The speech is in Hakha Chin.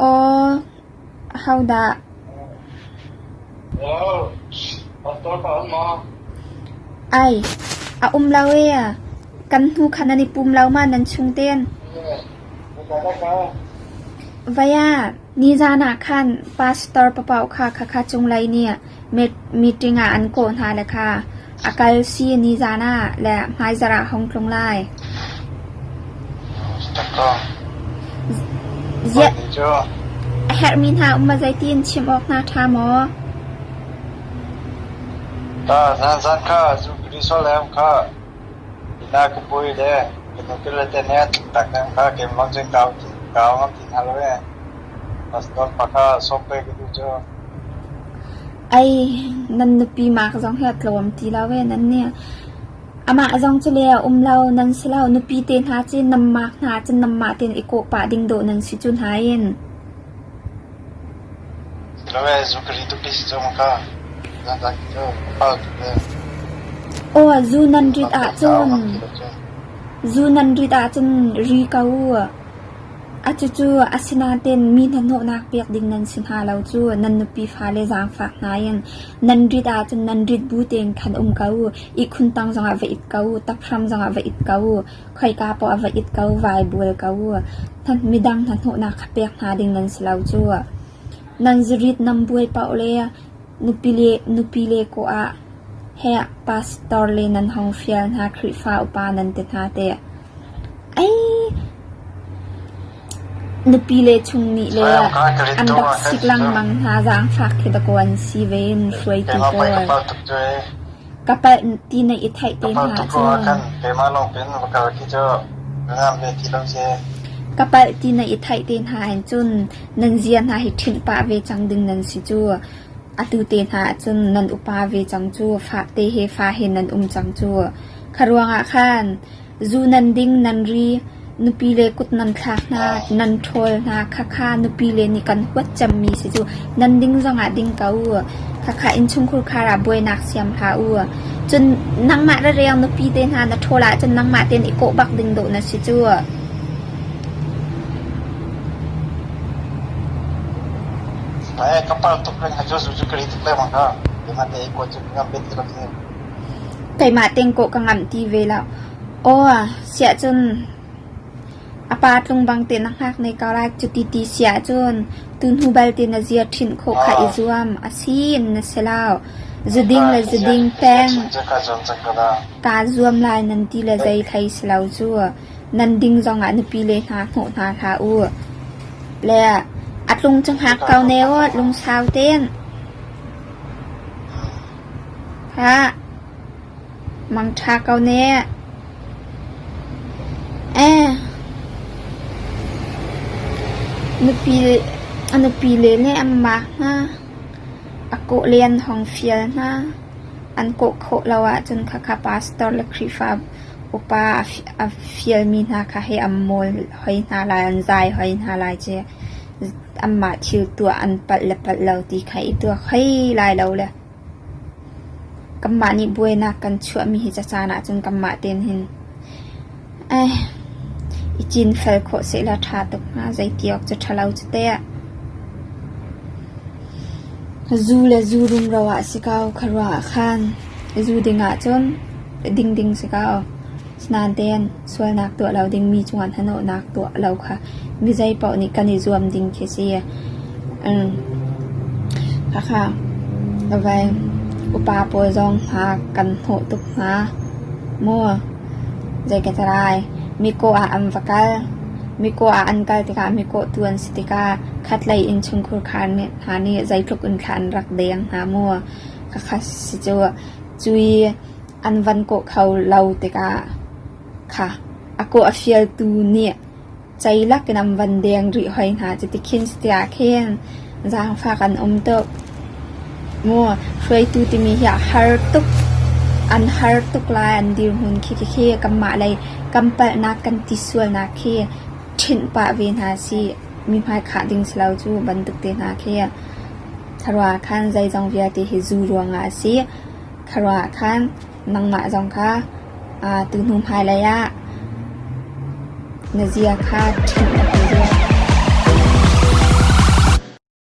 Aw, ahodah? Ai, a um lo e. Kan hnu khan an i pum lo ma nan chung ten. Vai ah Nizan ah khan pastor paoh kha khakha cunglei nih meeting ah an kawh hna le kha a kal si nizan ah le hmaizarh ah a hung tlung lai. A herhmi hna um maw zeitin chim awk hna ṭha maw? Zan kha zu ka ri sual em kha? Na ka pawi le ka nupi le te nih taktak in kha keimah cu ka ngam ti hna lo ee. Pastor pa kha sawm pei ka duh cu. Ai, nan nupi maak zong hi a tlawm ti lo ee nan nih. Amah zong cu le a um lo, nan si lo. Nupi te hna cu nan maak hna cun nanmah tein i kawh pah ding dawh nan si cu hna in. Aw zu nan rit ahcun zu nan rit ahcun ri ko u. Cucu asinain mi hnahnawhnak pek ding nan si hna lo cu nan nupi fale zaangfak hna in nan rit ahcun nan rit bu tein khan um ko u. Ihkhun tang zongah va it ko u. Takhram zongah va it ko u. Khoika poh a va it ko, vai bual ko uh. Midang hna hnawhnak kha pek hna ding nan si lo cu. Nan zarit nam buai paoh le nupi le kaw ah he pastor le nan hong fial hna Khrihfa upa nan ti hna teh. Ai, nupi le chung nih le an rak sik lengmang hna zaangfak khi dakaw an si ve in hruai ti kaw. Ka palh ti na i theih te hna ahcun nan zia hna hi ṭhinh pah ve cang ding nan si cu. Atu te hna ahcun nan upa ve cang cu, fate he fa he nan um cang cu. Kha ruangah khan Zu nan ding nan ri, nupile kut nan thlak hna, nan ṭhawl hna, khakha nupile nih kan huat cemmi si cu nan ding zongah ding ko u. Khakha innchungkhur khar ah buainak siam hlah u. Cun nangmah rereng nupi te hna na ṭhawl ahcun nangmah tein i kawh bak ding dawh na si cu. Ka pa tuk in haju zu cu ka rit lengmang hna. Keimah nih a ei kuat cu ka ngam bet ti lo ti. Keimah tengkawh ka ngamh ti ve lo. Aw, siahcun a pa tlung bang tein a hngaknei ko lai cu ti ti siahcun tuhnu balte na zir ṭhinh khawh kha i zuam. A sin na si lo. Zuding le zuding peng kaa zuam lai nan ti le zei thei si lo cu. Nan ding zongah nupile hna hnawh hna hlah u. Le a tlung cu hngak ko ne aw, lungsau tein. Hah! Mangṭha ko ne! Eh! A nupi le nih an maak hna. A kawh le an hong fial hna. An kawh khawh lo ahcun khakha pastor le Khrihfa upa a fialmi hna kha hi an mawl hoi hna lai, an zai hoi hna lai cu. anmah thil tuah an palh le palh lo ti kha i tuak hlei lai lo le kanmah nih buainak kan chuahmi hi cacaan ahcun kanmah tein hin ai i cinfel khawh sehla ṭha tuk hnga zeiti awk cu ṭhalo cu teh. Zu le zu rumro ah si ko khuaruah ah khan zu ding ahcun ding ding si ko. Natein sualnak tuah lo dingmi cungah hnahnawhnak tuah lo kha mi zeipaoh nih kan i zuam ding khi si. Hakha vai upa pawl zong hna kan hnuh tuk hna. Maw zei ka ti lai. Mikaw ah an va kal. Mikaw ah an kal tikah mikaw tu an si tikah khatlei in chungkhur khar hna nih zeitluk in thlah an rak deng hna maw. Khakha si cu. Cui an van kawh kho lo tikah kha a kawh a fialtu nih cei lakin an van deng rih hoi hna. Cuti khin cutiah khin zaangfak an um tuk. Mu hruaitu timi hi a har tuk. An har tuk lai an dirhmun khi khi kanmah lei kan palhnak kan ti sualnak khi ṭhinh pah ve hna sih. Mihmai khah ding si lo cu bantuk te hna khi. Thlarua khan zeizong vialte hi zu ruangah a si. Khuaruah a khan. Nangmah zong kha tu hnu hmailei ah na zia kha ṭhinh a thei deuh.